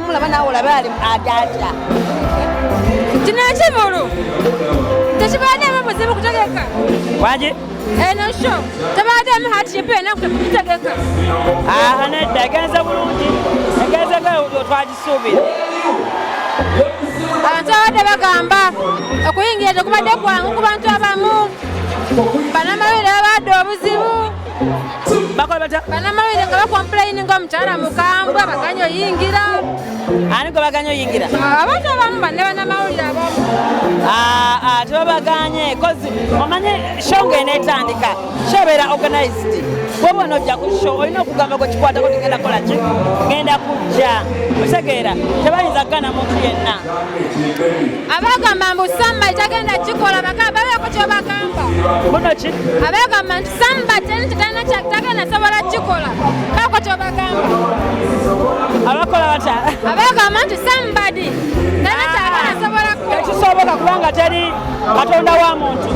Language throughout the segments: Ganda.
mulaba nawe olabe ali adata kino ekivulu tekibaademu buzibu kutegeka waki eno sho tebaademu hakipe enaku tekugitegeka aha nedda egenze bulungi egenze nga twagisuubira abantu abadde bagamba okuyingira tekubadde kwangu ku bantu abamu banamawulire babaadde obuzibu bakola batya banamawulire nga bakompulaini nga omukyala mukambwe baganya oyingira ani gwe baganya oyingira abantu abamu banne banamawulire abamu ah, ah, tebabaganye kozi omanye show nga enetandika show beera organized bwoba onojja ku show olina okugamba gwekikwatako tigenda kola ki genda kujja otegeera tebayinza kugana muntu yenna abagamba mbu samma itagenda kikola bakaba babeeko kyobagamba muno ki abagamba nti samba teni tekalina kyatagana sobola kikola kako kyobagamba abakola bata abagamba nti sambadi tena kyagana ah, sobola kukola tekisoboka kubanga teri katonda wa muntu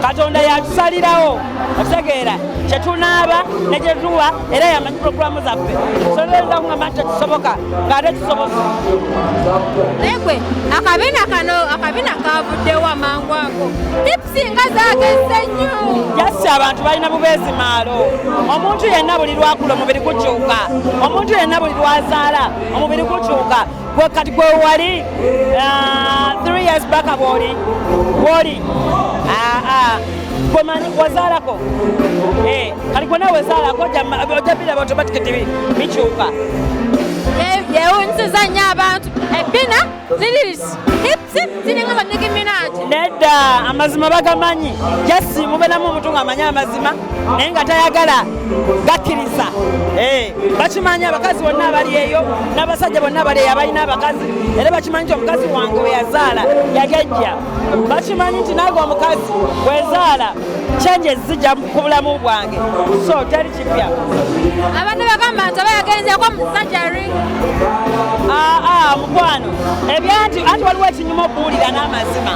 katonda yatusalirawo okutegeera kyetunaaba nekyetuwa era yamanyi puroguramu zaffe soyinza kugamba nti tekisoboka ngaate kisoboka naye gwe akabina kano akabina kavuddewo amangu ago singa zagezze nnyo jasi abantu balina bubeezi maalo omuntu yenna buli lwakula omubiri gukyuka omuntu yenna buli lwazaala omubiri gukyuka gwe kati gwe wali ah, three years baka bwoli bwoli ah, ah. gwe manyi wazaalako eh, kati gwe nawe wezaalako ojja biraba automatic tibi bikyuka yewunyisiza nnyo abantu ebbina lirisi hip ziringa ba Nicki Minaj nedda amazima bagamanyi just mubeeramu omuntu ng'amanyi amazima naye nga tayagala gakkiriza eh, bakimanyi abakazi bonna abali eyo n'abasajja bonna abali eyo abalina abakazi era bakimanyi nti omukazi wange we yazaala yagejja bakimanyi nti nange omukazi wezaala changes zijja ku bulamu bwange so teri kipya abantu bagamba nti aba yagenzeeko mu sajari aa ah, ah, mukwano ebyanti anti waliwo ekinyuma okuwulira n'amazima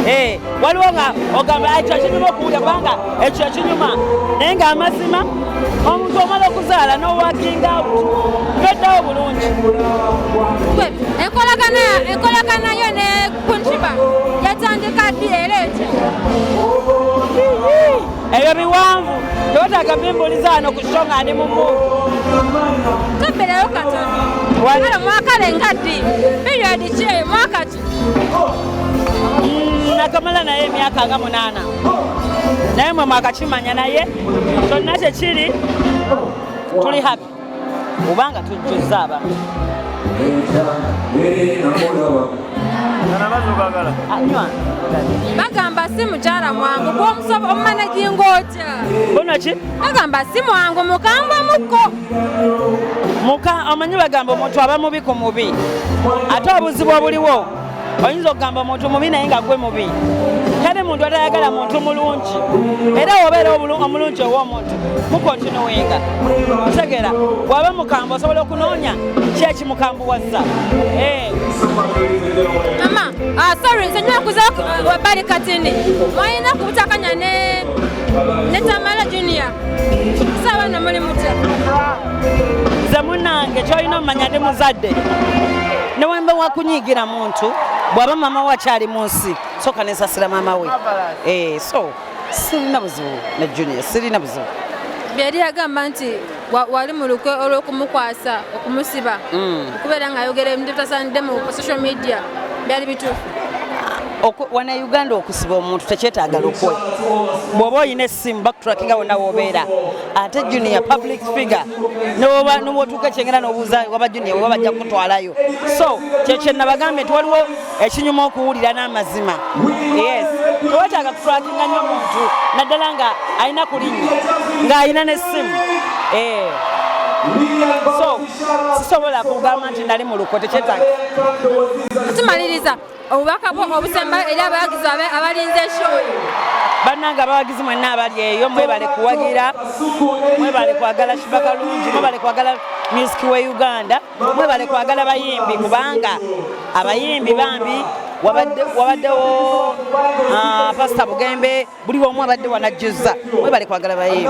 eh, waliwo nga ogamba ekyo ekinyuma okuwulira kubanga ekyo ekinyuma naye ng'amazima omuntu omala okuzaala n'owakinga toddawo bulungi enkolagana yo ne kuntiba yatandika ddi era etya ebyo biwanvu tewetaaga bimbuliza wano ku sho nga ndi mumu toberayo katono kale mwakale nga ddi periodi ki eyo mwaka ki mm, nakamala naye emyaka nga munaana naye mwe mwakakimanya naye kyonna kyekiri tuli happy obanga tujjuzza abamu bagamba si mukyala mwangu gwomusobo omumana jinga otya bonaki bagamba si mwangu mukambwe mukko muka omanyi bagamba omuntu aba mubi ku mubi ate obuzibu obuliwo oyinza okugamba omuntu mubi naye nga gwe mubi tali muntu atayagala muntu mulungi era wobeera omulungi ow'omuntu mukontinuwenga kutegera waba mukambwe osobola okunoonya ki ekimukambuwazza eh. mama ah, sorry nze nyokuza wabali katini mwayina kubutakanya ne netamala junior sawa no muli mutya nze munange kyolina omumanya ndi muzadde newemba wakunyigira muntu bwaba mama wakyali mu nsi soka nesasira mama we eh, so sirina buzibu ne junior sirina buzibu byeyali yagamba nti wali mu lukwe olw'okumukwasa okumusiba hmm. okubeera ng'ayogera ebintu bitasaanidde mu social media byali bituufu wana uganda okusiba omuntu tekyetaaga lukwe bwoba olina essimu bakutrakinga wonna wobeera ate junior public figure nobwotuuka ekyengera nobuuza waba junior oba bajja kukutwalayo so kyekyenabagambye nti waliwo ekinyuma okuwulira n'amazima yes tewetaaga kufulakinga nnyo muntu naddala nga alina ku linnya ng'alina n'essimu eh. so sisobola kugamba nti nali mu luko tekyetaaga tumaliriza obubaka bwo obusembayo eri abawagizi babe abalinze eshoyi bannange abawagizi mwenna abali eyo mwebale kuwagira mwebale kwagala shibakalungi mwebale kwagala music we uganda mwebale kwagala bayimbi kubanga abayimbi bambi wabaddewo ah, pasita bugembe buli womu abadde wanajjuza mwebale kwagala bayimbi